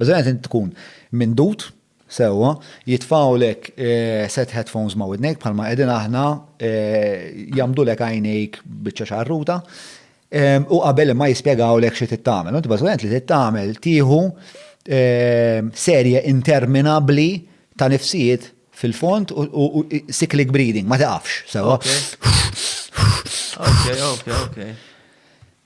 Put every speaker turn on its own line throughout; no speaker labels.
Bażikament int tkun mindut sewwa, jitfawlek eh, set headphones ma' widnejk bħalma qegħdin aħna eh, jagħmdulek għajnejk biċċa xarruta. Eh, u qabel ma jispjegawlek xi tittamel. Int bażikament li tittamel tieħu serje interminabbli ta' nifsijiet fil-font u cyclic breeding, ma taqafx, sewa. Ok,
ok, ok.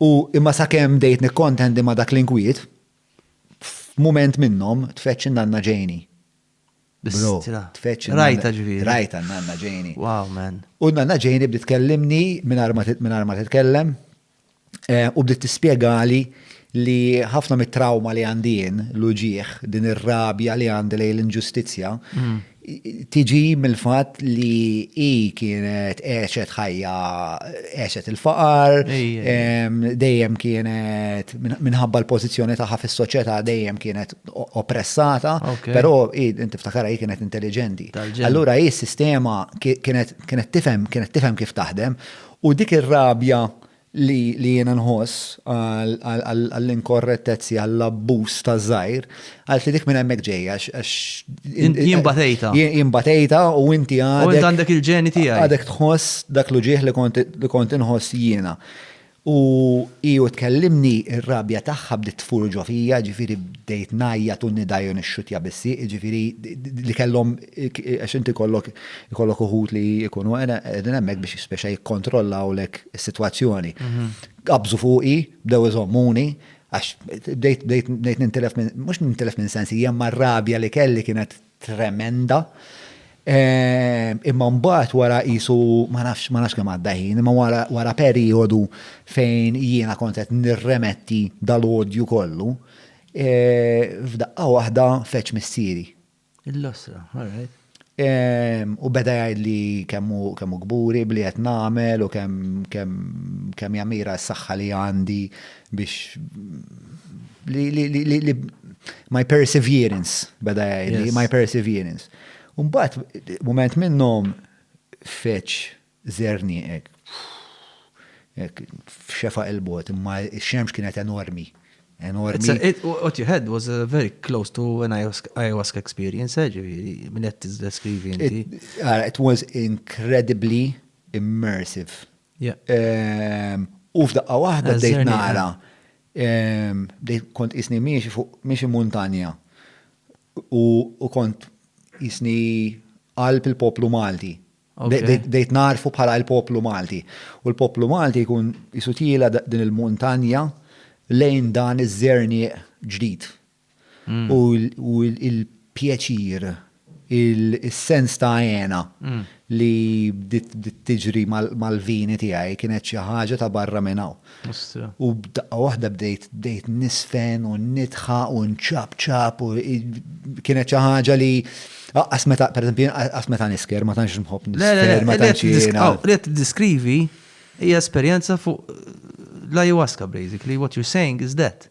U imma sakemm bdejt nikkontendi ma' dak l-inkwiet, f'mument minnhom tfeġġ in-nanna Janie. Bro, Bistra. tfeġġ in-nanna- Rajta ġifieri. Rajta
n-nanna Janie.
Wow, man. U
n-nanna Janie bdiet
tkellimni mingħajr ma tit- mingħajr ma titkellem, eh, u bdiet tispjegali li ħafna mit-trawma li għandi jien, l-uġigħ, din ir-rabja li għandi lejn l-inġustizzja, tiġi mill-fatt li hi kienet għexet ħajja għexet il-faqar, dejjem kienet minħabba l-pożizzjoni tagħha fis-soċjetà dejjem kienet oppressata, però inti ftakara hi kienet intelliġenti. Allura hi s-sistema kienet tifhem kif taħdem u dik ir-rabja li jiena nħoss għall-inkorrettezzi, għall-abbuż ta' żgħir, għalf li dik minn hemmhekk ġejja għax. Jien batejta. Jien batejta u inti għadek. U inti għandek il-ġeni
tiegħi. Għadek tħoss dak
l-uġieħ li kont inħoss jiena. U iju tkellimni r-rabja tagħha bdiet tfur ġo fija, ġifieri bdejt ngħajjat u nidajju nixxutja bissi, ġifieri li kellhom Għax inti jkollok jkollok uħud li jkunu qegħdin hemmhekk biex speċa jikkontrollawlek is-sitwazzjoni. Qabżu fuqi, bdew iżommuni, għax bdejt bdejt bdejt nintilef minn mhux nintilef minn sensi, hija mar-rabja li kelli kienet tremenda. Ehm, imma mbagħad wara qisu ma nafx ma nafx kemm għadda ħin, imma wara wara perjodu fejn jiena kont qed nirremetti dal-odju kollu, eh, f'daqqa waħda feġġ missieri. Il-lasra, all
right. U
beda jgħid li kemmu kburi bli qed nagħmel u kemm jamira s-saħħa li għandi biex li my perseverance beda jgħid my perseverance. Mbagħad mument minnhom feċ Żerniq hekk hekk f'xefaq il-bogħod imma x-xemx kienet enormi, enormi.
What you had was very close to an ayahuasca experience, eh, ġifieri, minn qed tiddeskrivi inti. Ara, it was
incredibly immersive. Ehm, u f'daqqa waħda bdejt nara, ehm, bdejt kont isni miexi fuq miexi muntanja u kont isni qalb il-poplu Malti. Bdejt narfu bħala l-poplu Malti. U l-poplu Malti jkun jisutila din il-muntanja lejn dan iż-żerni ġdid. Mm. U il-pjaċir, il-sens ta' għena mm. li bdiet tiġri mal-vini tiegħi kienet xi ħaġa ta' barra minn hawn. U b'daqqa waħda bdejt bdejt niżfen u nidħaq u nċapċap u kienet xi ħaġa li Aqqas meta, per eżempju, aqqas meta nisker, ma tantx nħobb nisker, ma tantx jiena. Li qed diskrivi
hija esperjenza fuq l-ayahuasca basically, what you're saying is that.